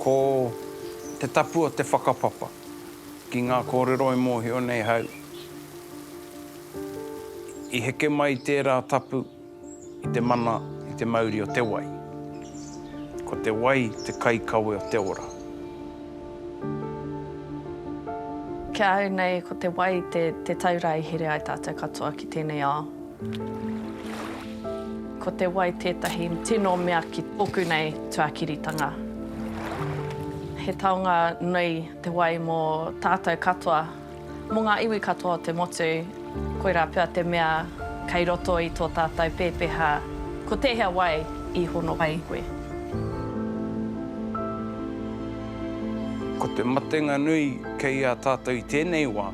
Ko te tapu o te whakapapa ki ngā kōrero e mōhio nei hau, i heke mai tērā tapu i te mana i te mauri o te wai. Ko te wai te kaikawe o te ora. Ki ahau nei, ko te wai te tauira i here ai tātou katoa ki tēnei ao. Ko te wai tētahi tino mea ki tōku nei tuakiritanga. He taonga nui te wai mō tātou katoa, mō ngā iwi katoa o te motu, koirā pea te mea kei roto i tō tātou pēpeha ko tēhea wai i hono ai koe. Ko te matenga nui kei a tātou i tēnei wā.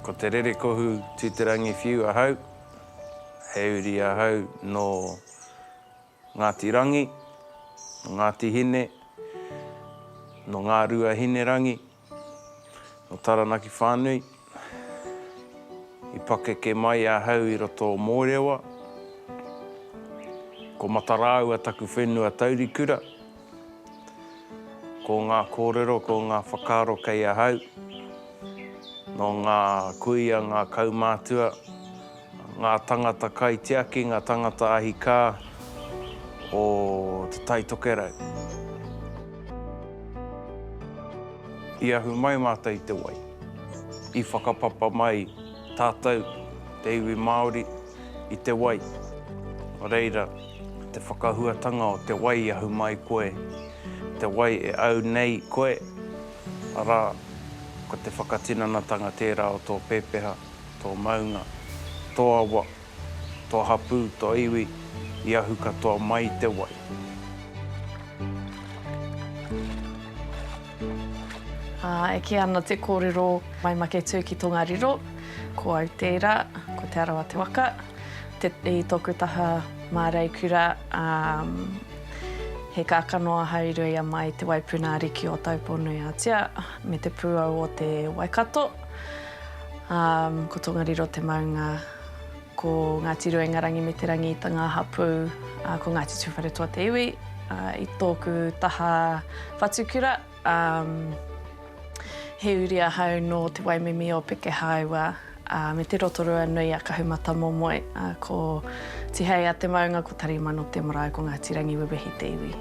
Ko te rerekohu Tūterangi Whiu ahau, he uri ahau nō Ngāti Rangi, nō Ngāti Hine, nō Ngāruahinerangi. Nō Taranaki whānui, i pakeke mai ahau i roto o Mōrewa. Ko Matarāua taku whenua taurikura. Ko ngā kōrero, ko ngā whakaaro kei ahau, nō ngā kuia, ngā kaumātua, Ngā tangata kaitiaki, ngā tangata ahikā o Te Tai Tokerau. I ahu mai mātou i te wai. I whakapapa mai tātou, te iwi Māori, i te wai. Nō reira, te whakahuatanga o te wai i ahu mai koe, te wai e au nei koe, arā, ko te whakatinanatanga tērā o tō pepeha. Tō maunga, tō awa, tō hapū, tō iwi, i ahu katoa mai i te wai. Ā, e kī ana te kōrero, mai make tū ki Tongariro, ko au tērā, ko Te Arawa te waka, te, i tōku taha māreikura, ā, he kākano ahau i rua i a Mai, te waipuna ariki o Taupō-nui-ā-Tia, me te pūau o te Waikato. Um, ko Tongariro te maunga, ko Ngāti Rua Ingarangi me Te Rangi i tanga hapū, uh, ko Ngāti Tūwharetoa te iwi, uh, i tōku taha whatukura. Um, he uri ahau nō te waimimi o Pekehāua, uh, me te Rotorua nui a Kahumatamomoe, uh, ko Tihei a te maunga, ko Tarimano te marae, ko Ngāti Rangiwewehi te iwi.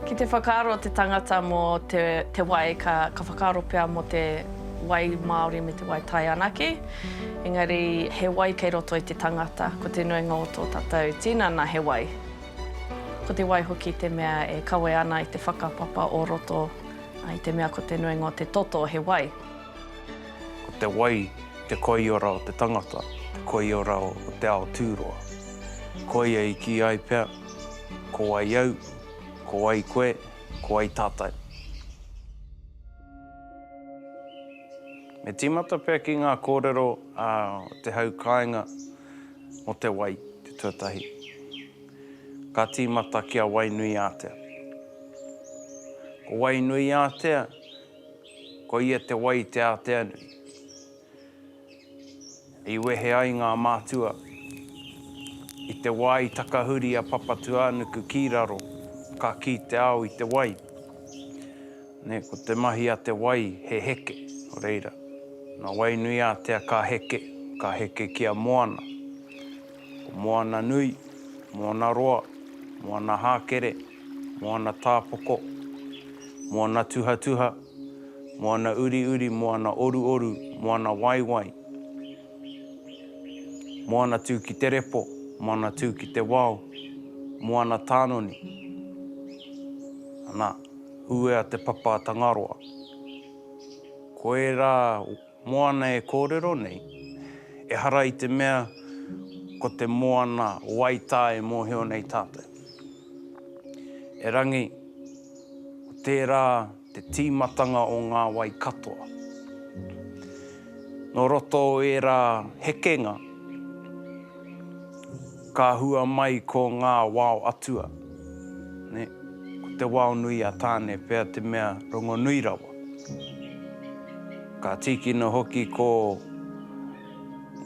Ki te whakaaro te tangata mō te wai, ka whakaaro pea mō te wai māori me te wai tai anake. Engari, he wai kei roto i te tangata, ko te nuinga o tō tātou tinana he wai. Ko te wai hoki te mea e kawe ana i te whakapapa o roto, i te mea ko te nuinga o te toto he wai. Ko te wai te koiora o te tangata, te koiora o te ao tūroa. Koia i kī ai pea, Ko wai au, ko wai koe, ko wai tātou? Me tīmata pea ki ngā kōrero a te hau kāinga mō te wai, te tuatahi. Ka tīmata ki a Wainuiātea. Ko Wainuiātea, ko ia te wai te ātea nui. I wehe ai ngā mātua i te wā i takahuri a Papatūānuku ki raro, ka kī te ao i te wai, nē, ko te mahi a te wai he heke, nō reira, nā Wainuiātea ka heke, ka heke ki a Moana. Ko Moana Nui, Moana Roa, Moana Hākere, Moana Tāpoko, Moana Tuhatuha, Moana Uriuri, Moana Oruoru, Moana Waiwai, Moana Tū ki te Repo, Moana Tū ki te Wao, Moana Tānoni, ana, Huea te Papa Tangaroa. Koirā. Moana e kōrero nei, ehara i te mea ko te moana wai tā e mōhio nei tātou. Erangi, ko tērā te tīmatanga o ngā wai katoa. Nō roto o ērā hekenga, Ka hua mai ko ngā wao atua, nē, ko te wao nui a Tāne pea te mea rongonui rawa. Ka tīkina hoki ko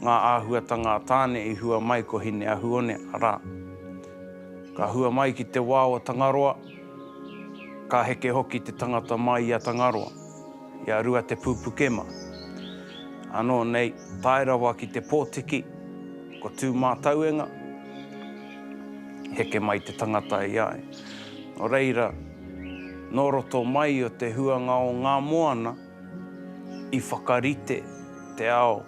ngā āhuatanga a Tāne i hua mai ko Hineahuone, arā, ka hua mai ki te wao o Tangaroa, ka heke hoki te tangata mai i a Tangaroa. I a Ruatepūpukema. Anō nei, tae rawa ki te pōtiki, ko Tūmātauenga, heke mai te tangata i a ia. Nō reira, nō roto mai o te huanga o ngā moana i whakarite te ao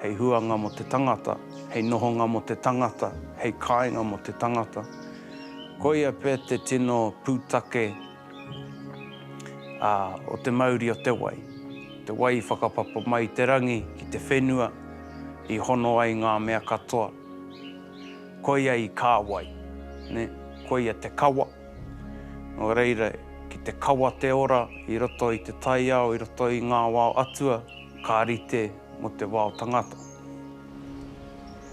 hei huanga mō te tangata, hei nohonga mō te tangata, hei kāinga mō te tangata. Koia pea te tino pūtake Ā, o te mauri o te wai, te wai i whakapapa mai i te rangi ki te whenua i hono ai ngā mea katoa, koia i kāwai, nē, koia te kawa, nō reira, ki te kawa te ora i roto i te taiao, i roto i ngā wao atua ka rite mō te wao tangata.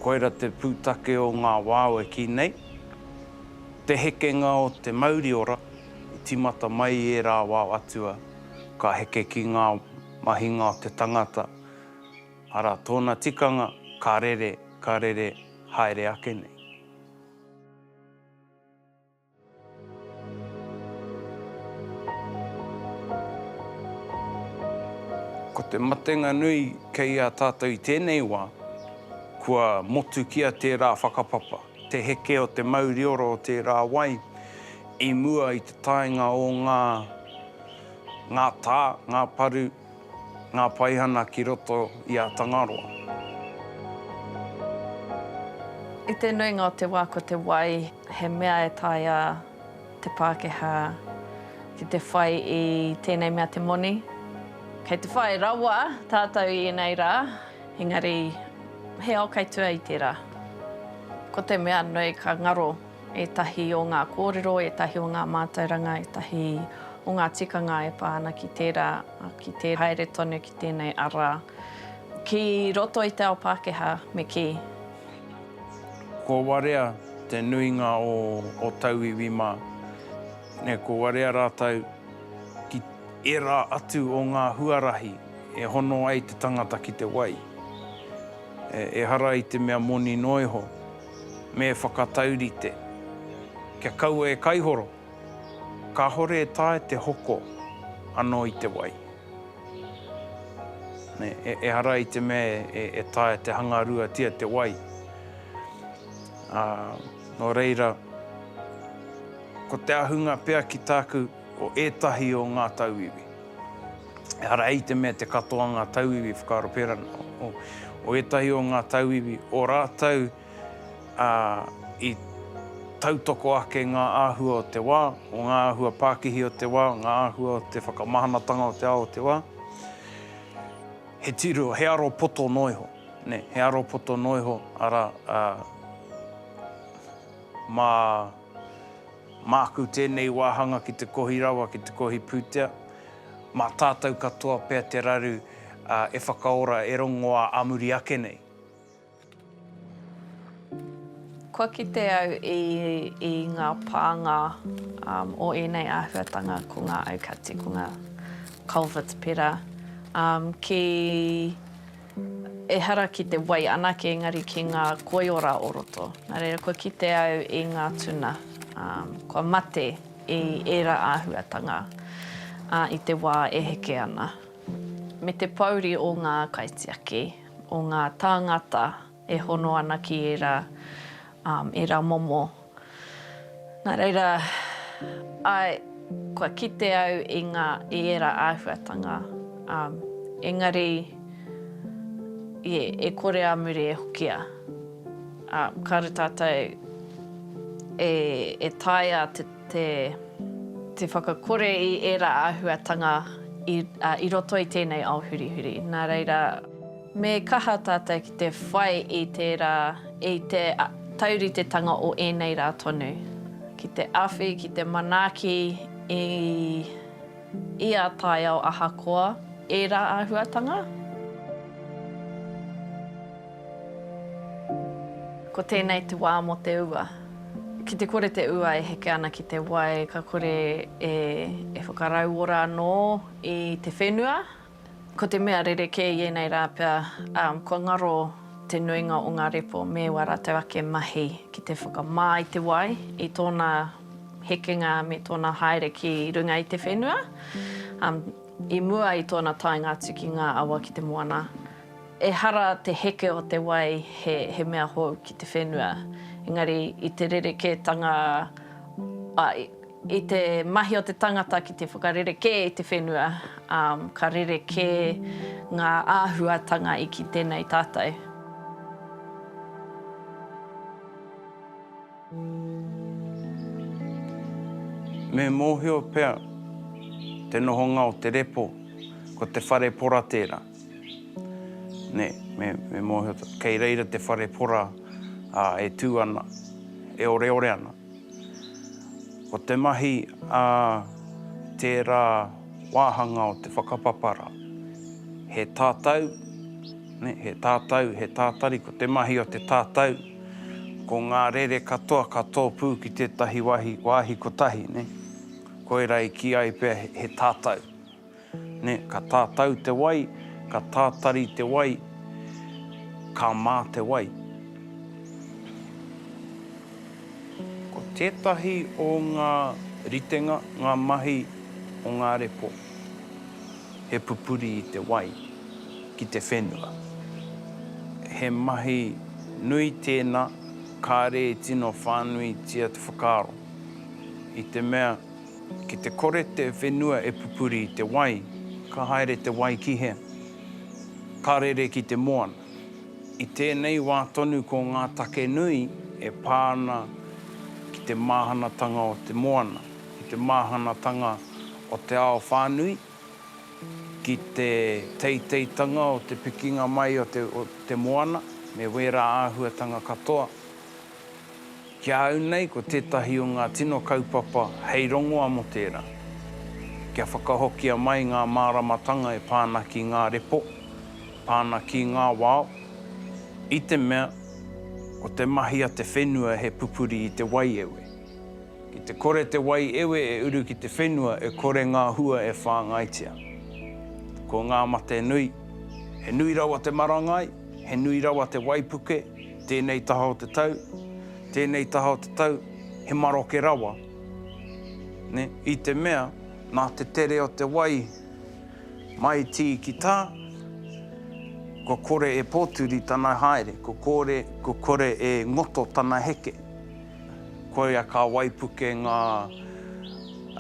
Koira te pūtake o ngā wao e kī nei. Te hekenga o te mauri ora, i tīmata mai i ērā wā o Atua, ka heke ki ngā mahinga o te tangata, arā tōna tikanga, ka rere, ka rere haere ake nei. Ko te matenga nui kei a tātou i tēnei wā, kua motukia tērā whakapapa. te heke o te mauriora o tērā wai i mua i te taenga o ngā ngā tā, ngā paru, ngā paihana ki roto i a Tangaroa. I te nuinga o te wā ko te wai he mea e taea te Pākehā ki te whai i tēnei mea te moni. Kei te whai rawa tātou i ēnei rā. Engari, he ao kei tua i tērā. Ko te mea nui ka ngaro ētahi o ngā kōrero, ētahi o ngā mātauranga, ētahi o ngā tikanga e pā ana ki tērā, ki te haere tonu ki tēnei ara ki roto i te ao Pākehā me kī. Ko warea te nuinga o tauiwi mā. Ko warea rātou ki ērā atu o ngā huarahi. E hono ai te tangata ki te wai. Ehara i te mea moni noa iho, me whakataurite. Kia kaua e kaihoro, kāhore e taea te hoko anō i te wai. Ehara i te mea e taea te hangaruatia te wai. Nō reira, ko te ahunga pea ki tāku. Ko ētahi o ngā tauiwi. Ehara i te mea te katoa ngā tauiwi whakaaro pērā ana. O ētahi o ngā tauiwi, o rātou i tautoko ake ngā āhua o te wā, o ngā āhua pākihi o te wā, ngā āhua o te whakamahanatanga o te ao o te wā, he tiro, he aro poto noa iho, nē, he aro poto noa iho, arā, mā. Māku tēnei wāhanga ki te kohi rawa, ki te kohi pūtea. Mā tātou katoa pea te raru e whakaora, e rongoā ā muri ake nei. Kua kite au i ngā pānga o ēnei āhuatanga ko ngā aukati, ko ngā culverts pērā ki. Ehara ki te wai anake engari ki ngā koiora o roto. Nā reira kua kite au i ngā tuna kua mate i ērā āhuatanga i te wā e heke ana. Me te pouri o ngā kaitiaki, o ngā tāngata e hono ana ki ērā momo Nā reira, āe, kua kite au i ngā, i ērā āhuatanga, ā, engari, ie, e kore a muri e hokia, ā, kāore tātou e, e taea te, te, te whakakore i ērā āhuatanga i, ā, i roto i tēnei ao hurihuri. Nā reira. Me kaha tātou ki te whai i tērā, i te tauritetanga o ēnei rā tonu, ki te awhi, ki te manaaki i ia taiao ahakoa ērā āhuatanga. Ko tēnei te wā mō te ua. Ki te kore te ua e heke ana ki te wai, ka kore e whakarauora anō i te whenua, Ko te mea rerekē i ēnei rā pea, kua ngaro te nuinga o ngā repo me wā rātou ake mahi ki te whakamā i te wai, i tōna hekenga me tōna haere ki runga i te whenua, i mua i tōna taenga atu ki ngā awa ki te moana. Ehara te heke o te wai he mea hou ki te whenua, engari i te rerekētanga, I te mahi o te tangata ki te whakarerekē i te whenua, ka rerekē ngā āhuatanga i kite nei tātou. Me mōhio pea te nohonga o te repo, ko te whare pora tērā. Kei reira te whare pora e tū ana, e oreore ana. Ko te mahi a tērā wāhanga o te whakapapara, he tatau, he tatau, he tātari, ko te mahi o te tatau, ko ngā rere katoa ka tōpū ki tētahi wāhi kotahi, koirā i kī ai pea he tatau. nē, ka tātau te wai, ka tātari te wai, ka mā te wai. Ko tētahi o ngā ritenga, ngā mahi o ngā repo, he pupuri i te wai ki te whenua. He mahi nui tēnā, kāre e tino whānuitia te whakaaro, i te mea Ki te kore te whenua e pupuri i te wai, ka haere te wai ki he. Ka rere ki te moana. I tēnei wā tonu ko ngā take nui e pā ana ki te māhanatanga o te moana, ki te māhanatanga o te ao whānui, ki te teiteitanga o te pikinga mai o te moana me wērā āhuatanga katoa. Ki a au nei ko tētahi o ngā tino kaupapa hei rongoa mō tērā, kia whakahokia mai ngā māramatanga e pā ana ki ngā repo, pā ana ki ngā wao, i te mea, ko te mahi a te whenua he pupuri i te waiewe. Ki te kore te waiewe e uru ki te whenua e kore ngā hua e whāngaitia. Ko ngā mate nui, he nui rawa te marangai, he nui rawa te waipuke, Tēnei taha o te tau, tēnei taha o te tau, he maroke rawa, nē, i te mea nā te tere o te wai mai tī ki tā, kua kore e pōturi tana haere, kua kore, kua kore e ngoto tana heke. Koia ka waipuke ngā,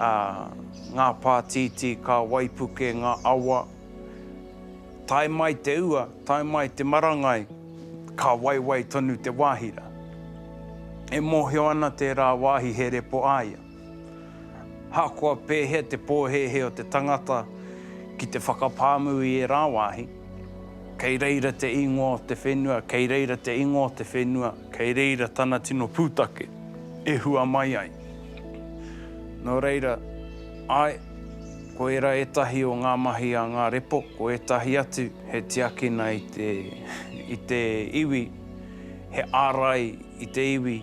ā, ngā pātītī, ka waipuke ngā awa, Tae mai te ua, tae mai te marangai, ka waiwai tonu te wāhira. E mōhio ana tērā wāhi he repo a ia. Ahakoa pēhea te pōhēhē o te tangata ki te whakapāmu i ērā wāhi, kei reira te ingoa o te whenua, kei reira te ingoa o te whenua, kei reira tana tino pūtake e hua mai ai. Nō reira, āe, Ko ērā ētahi o ngā mahi a ngā repo, ko ētahi atu he tiakina i te, i te iwi, he ārai i te iwi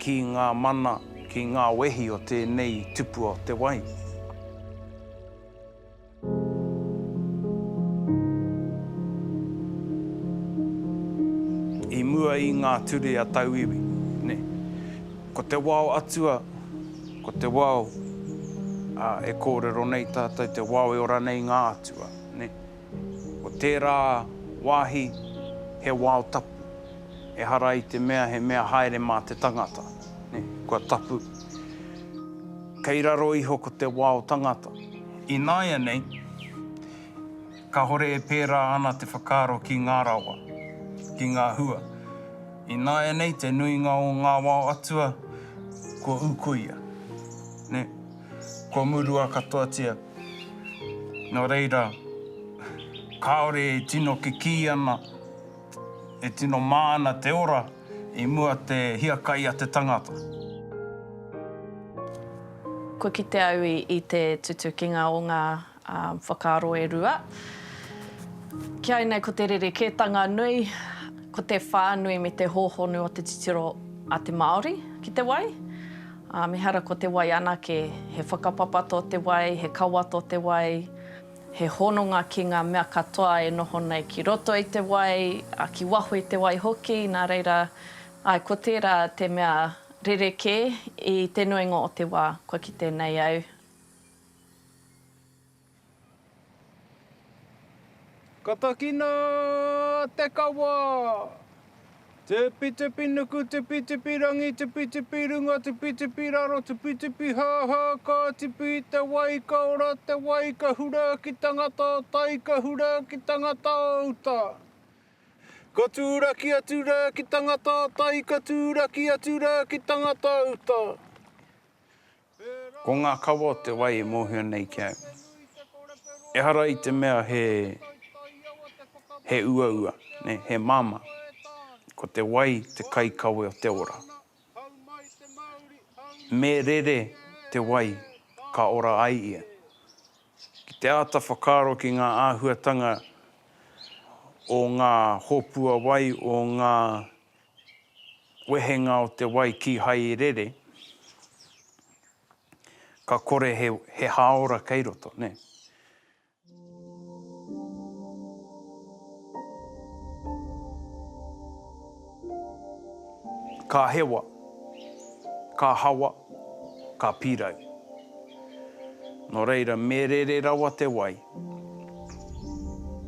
ki ngā mana, ki ngā wehi o tēnei tupua o te wai. I mua i ngā ture a tauiwi, nē. Ko te wao atua. Ko te wao, ā, e kōrero nei tātou te wao e ora nei i ngā atua, nē. Ko tērā wāhi he wao tapu, ehara i te mea he mea haere mā te tangata, nē, kua tapu. Kei raro iho ko te wao tangata. Ināianei, Kāhore e pērā ana te whakaaro ki ngā rawa, ki ngā hua. Ināianei te nuinga o ngā wao atua kua ūkuia, nē, kua murua katoatia. Nō reira, kāore e tino kikī ana, e tino mā ana te ora i mua te hiakai a te tangata. Kua kite au i te tutukinga o ngā Ā, whakaaro e rua. Ki au nei ko te rerekētanga nui, ko te whānui me te hōhonu o te titiro a te Māori ki te wai. Ā, mehara ko te wai anake, he whakapapa tō te wai, he kawa tō te wai, he hononga ki ngā mea katoa e noho nei ki roto i te wai, ā, ki waho i te wai hoki, nā reira, āe, ko tērā te mea rerekē i te nuinga o te wā kua kite nei au. Ka takina te kawa! Tupitupi nuku, tupitupi rangi, tupitupi runga, tupitupi raro, tupitupi hāhā, ka tipu i te wai, ka ora te wai, ka hura ki tangata o tai, ka hura ki tangata o uta. Ka tūraki atu rā ki tangata o tai, ka tūraki atu rā ki tangata o uta. Ko ngā kawa o te wai e mōhio nei ki au. Ehara i te mea he, he uaua, nē, he māmā. Ko te wai te kaikawe o te ora. Me rere te wai ka ora ai ia. Ki te āta whakaaro ki ngā āhuatanga o ngā hōpua wai, o ngā wehenga o te wai kīhai i rere, ka kore he, he hāora kei roto, nē. Ka hewa, ka hawa. Ka pirau. No reira, me rere rawa te wai.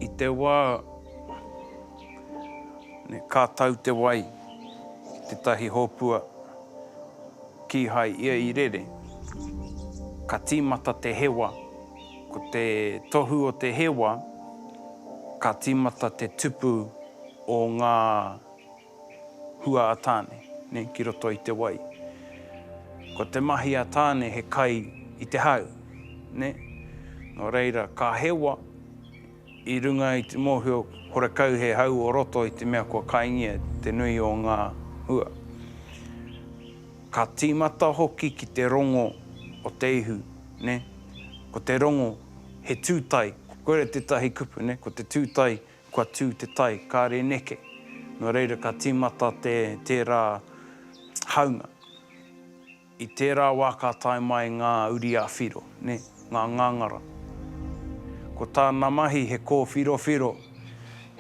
I te wa, ka tau te wai ki tetahi hopua, kihai ia i rere. Ka timata te hewa. Ko te tohu o te hewa, ka timata te tupu o nga hua a Tāne nei ki roto i te wai. Ko te mahi a Tāne he kai i te hau, nē. Nō reira, ka hewa i runga i te mōhio horekau he hau o roto i te mea kua kaingia te nui o ngā hua. Ka tīmata hoki ki te rongo o te ihu, nē. Ko te rongo he tūtai, koira tētahi kupu, nē, ko te tūtai Kua tū te tai, kāre neke. Nō reira ka tīmata te tērā haunga. I tērā wā ka tae mai ngā uri a Whiro, nē, ngā ngāngara. Ko tāna mahi he kōwhirowhiro,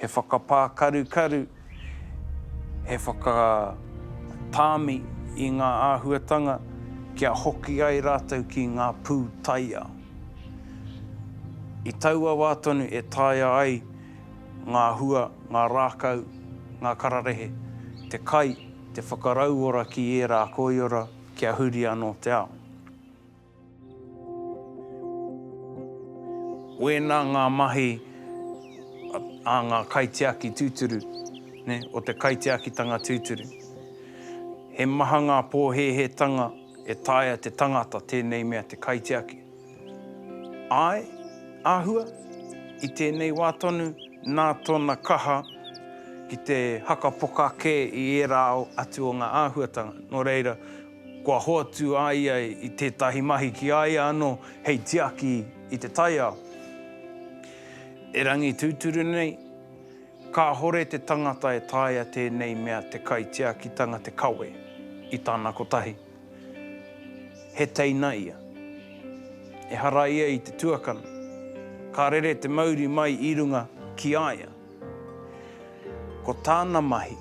he whakapākarukaru, he whakatāmi i ngā āhuatanga kia hoki ai rātou ki ngā pū taiao. I taua wā tonu e taea ai ngā hua, ngā rākau, ngā kararehe, te kai, te whakarauora ki ērā koiora kia huri anō te ao. Wēnā ngā mahi a ngā kaitiaki tūturu, o te kaitiakitanga tūturu. He maha ngā pōhēhētanga. E taea te tangata tēnei mea te kaitiaki? Āe, āhua, i tēnei wā tonu nā tōna kaha ki te hakapoka kē i ērā ao atu o ngā āhuatanga, nō reira, kua hoatu a ia i tētahi mahi ki a ia anō hei tiaki i te taiao. Erangi tūturu nei, Kāhore te tangata e taea tēnei mea te kaitiakitanga te kawe i tana kotahi. He teina ia. Ehara ia i te tuakana. Ka rere te mauri mai i runga ki a ia. Ko tāna mahi,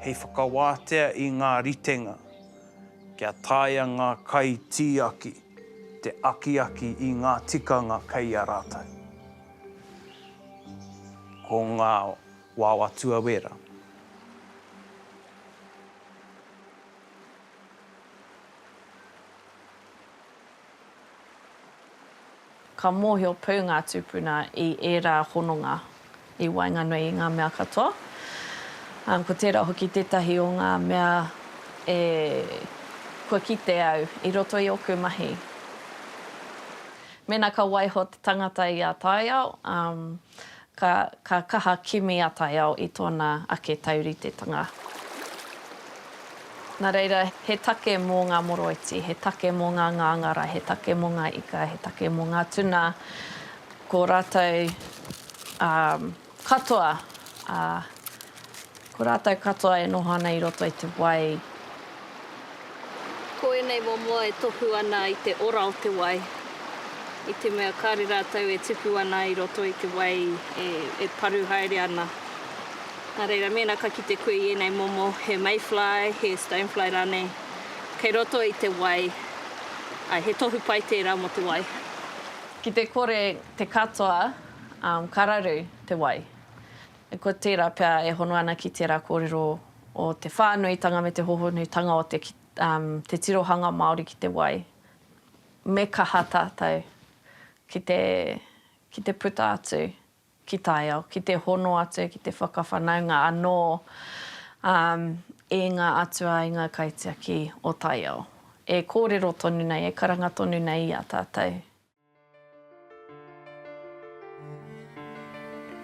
hei whakawātea i ngā ritenga kia taea ngā kaitiaki te akiaki i ngā tikanga kei a rātou. Ko ngā wawa tuawera. Ka mōhio pū ngā tūpuna i ērā hononga i waenganui i ngā mea katoa, ā, ko tērā hoki tētahi o ngā mea e kua kite au i roto i ōku mahi. Mēnā ka waiho te tangata i a taiao, ka kaha kimi a taiao i tōna ake tauritetanga. Nā reira, he take mō ngā moroiti, he take mō ngā ngāngara, he take mō ngā ika, he take mō ngā tuna, ko rātou Katoa, ā, ko rātou katoa e noho ana i roto i te wai. Ko ēnei momo e tohu ana i te ora o te wai, i te mea kāre rātou e tupu ana i roto i te wai e paru haere ana. Nā reira, mēnā ka kite koe i ēnei momo, he mayfly, he stonefly rānei, kei roto i te wai, ā, he tohu pai tērā mō te wai. Ki te kore te katoa Ka raru te wai. Ko tērā pea e hono ana ki tērā kōrero o te whānuitanga me te hohonutanga o te tirohanga Māori ki te wai. Me kaha tātou ki te puta atu ki taiao, ki te hono atu, ki te whakawhanaunga anō i ngā atua, i ngā kaitiaki o taiao e kōrero tonu nei, e karanga tonu nei i a tātou.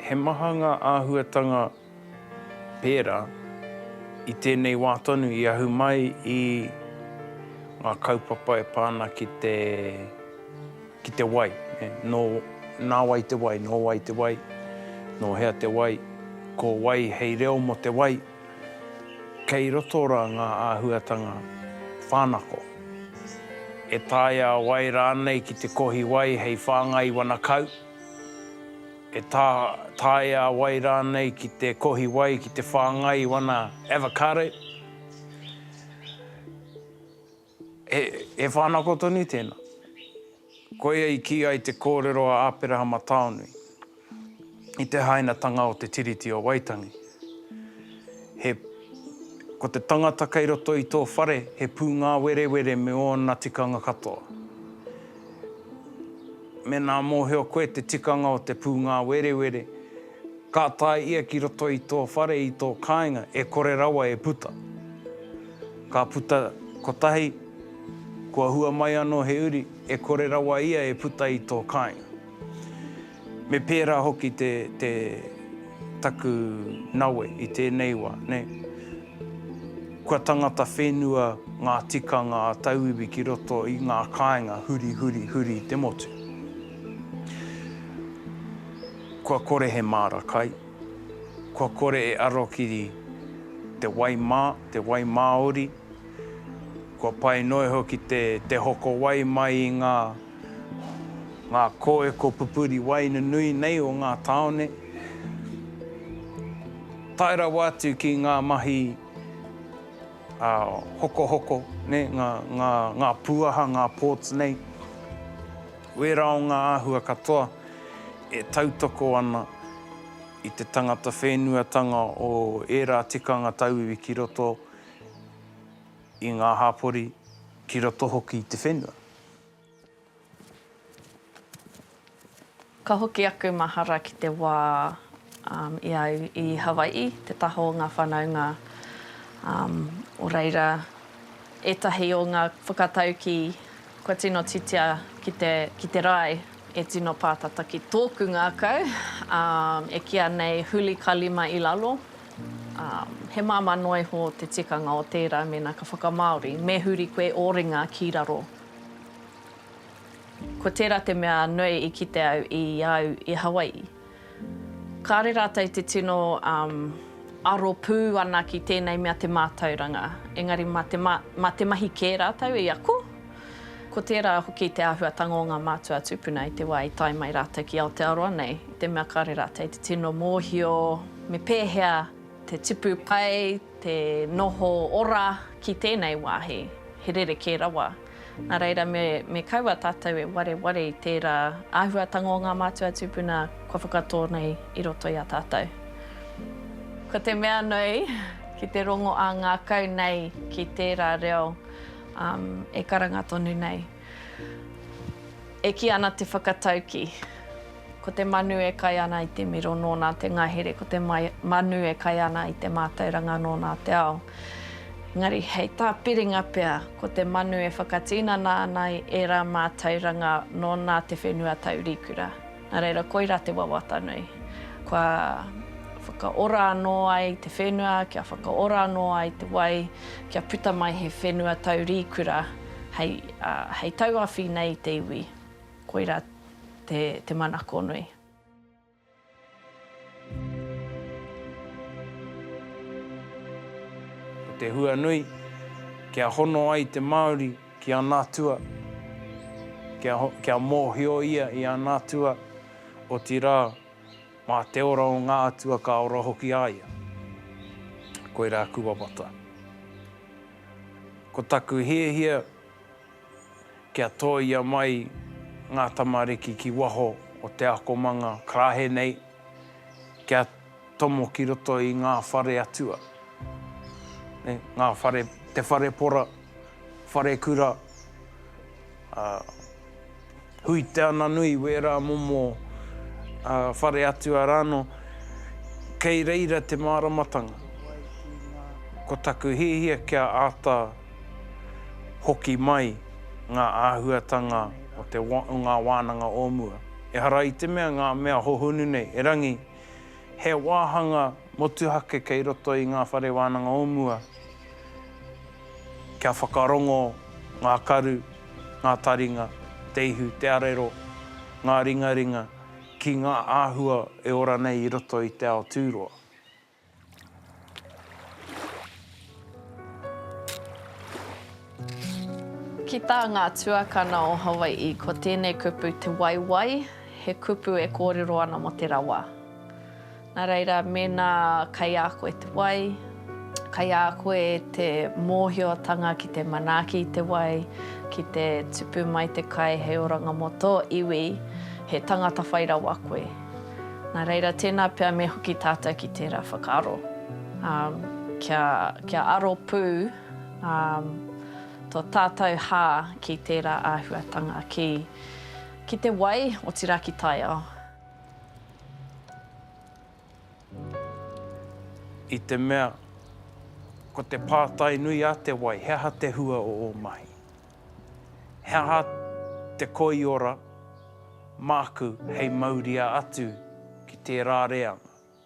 He maha ngā āhuatanga pērā i tēnei wā tonu i ahu mai i ngā kaupapa e pā ana ki te, ki te wai. Nō, nā wai te wai, nō wai te wai, nō hea te wai, ko wai hei reo mō te wai. Kei roto rā ngā āhuatanga whānako, e taea wai rānei ki te kohi wai hei whāngai wana kau, e taea wai rānei ki te kohi wai ki te whāngai wana avocado. He whānako tonu tēnā. Koia i kī ai te kōrero a Āperahama Taonui i te hainatanga o te Tiriti o Waitangi, he Ko te tangata kei roto i tō whare he pūngāwerewere me ōna tikanga katoa. Mēnā mōhio koe te tikanga o te pūngāwerewere, Ka tae ia ki roto i tō whare i tō kāinga e kore rawa e puta. Ka puta kotahi, kua hua mai anō he uri, e kore rawa ia e puta i tō kāinga. Me pērā hoki te, te, taku nawe i tēnei wā, nē. Kua tangata whenua ngā tikanga a tauiwi ki roto i ngā kāinga huri, huri, huri te motu. Kua kore he māra kai, kua kore e aro ki te wai mā, te wai māori, kua pai noa iho ki te hoko wai mai i ngā ngā kōeko pupuri wai nunui nei o ngā tāone, tae rawa atu ki ngā mahi hokohoko, ngā pūaha, ngā ports nei. Wērā o ngā āhua katoa e tautoko ana i te tangata whenuatanga o ērā tikanga tauiwi ki roto i ngā hapori, ki roto hoki i te whenua. Ka hoki aku mahara ki te wā i a au i Hawai'i, te taha o ngā whanaunga o reira ētahi o ngā whakataukī Kua tino titia ki te, ki te rae e tino pātata ki tōku ngākau, ā, e kīa nei huli ka lima i lalo, ā, he māmā noa iho te tikanga o tērā mēnā ka whakamāori, me huri koe ō ringa ki raro. Ko tērā te mea nui i kite au i a au i Hawai'i. Kāre rātou te tino aro pū ana ki tēnei mea te mātauranga, engari mā te mahi kē rātou i ako. Ko tērā hoki te āhuatanga o ngā mātua tūpuna i te wā i tae mai rātou ki Aotearoa nei, i te mea kāre rātou te tino mōhio me pēhea te tipu pai, te noho ora ki tēnei wāhi, he rerekē rawa. Nā reira, me kaua tātou e wareware i tērā āhuatanga o ngā mātua tūpuna kua whakatō nei i roto i a tātou. Ko te mea nui, ki te rongo ā ngākau nei ki tērā reo e karanga tonu nei, e kī ana te whakatauki. Ko te manu e kai ana i te miro nōna te ngahere, ko te manu e kai ana i te mātauranga nōna te ao. Engari, hei tā Piringa pea, ko te manu e whakatinana ana i ērā mātauranga nōna te whenua taurīkura. Nā reira, koirā te wawata nui. Kua whakaora anō ai te whenua, kia whakaora anō ai te wai, kia puta mai he whenua taurīkura hei tauawhi nei i te iwi. Koirā. te manako nui. Ko te hua nui, kia hono ai te Māori ki ana atua, kia, kia mōhio ia i ana atua, otirā, mā te ora o ngā atua ka ora hoki a ia. Koirā aku wawata. Ko taku hiahia Kia tōia mai ngā tamariki ki waho o te akomanga karahe nei, kia tomo ki roto i ngā whare atua, ngā whare, te whare pora, wharekura, ā. Hui Te Ananui, wērā momo whare atua rāno, kei reira te māramatanga. Ko taku hiahia kia āta hoki mai ngā āhuatanga o te o ngā wānanga o mua. Ehara i te mea ngā mea hohonu nei, erangi, he wāhanga motuhake kei roto i ngā whare wānanga o mua. Kia whakarongo ngā karu, ngā taringa, te ihu, te arero, ngā ringaringa ki ngā āhua e ora nei i roto i te ao tūroa. Ki tā ngā tuakana o Hawai'i, ko tēnei kupu te waiwai, he kupu e kōrero ana mō te rawa. Nā reira, mēnā kei a koe te wai, kei a koe te mōhiotanga ki te manaaki i te wai, ki te tupu mai te kai hei oranga mō tō iwi, he tangata whai rawa koe. Nā reira, tēnā pea me hoki tātou ki tērā whakaaro, kia aro pū tō tātou hā ki tērā āhuatanga, ki te wai, otirā ki taiao. I te mea, ko te pātai nui a te wai, he aha te hua o ō mahi? He aha te koiora māku hei mauria atu ki tērā reanga?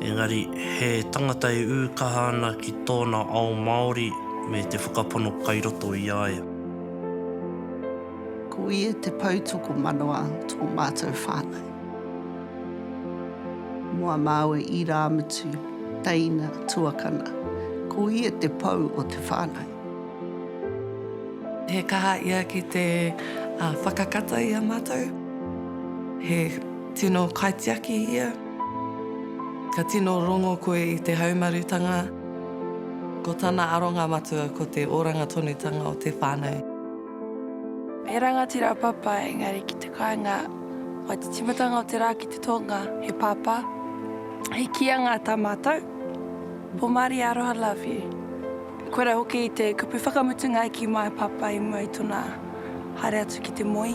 Engari, he tangata e ū kaha ana ki tōna ao Māori me te whakapono kai roto i a ia. Ko ia te pou tokomanawa tō mātou whānau. Mō a māua irāmutu, teina, tuakana, ko ia te pou o te whānau. He kaha ia ki te whakakata i a mātou. He tino kaitiaki ia. Ka tino rongo koe i te haumarutanga, ko tana aronga matua ko te oranga tonutanga o te whānau. He rangatira a Papa, engari ki te kāinga o te timatanga o te rā ki te tonga, he Papa, he kīanga tā mātou, Pomari aroha love you. Koira hoki te kupu whakamutunga ki my Papa i mua i tona. Haere atu ki te moe.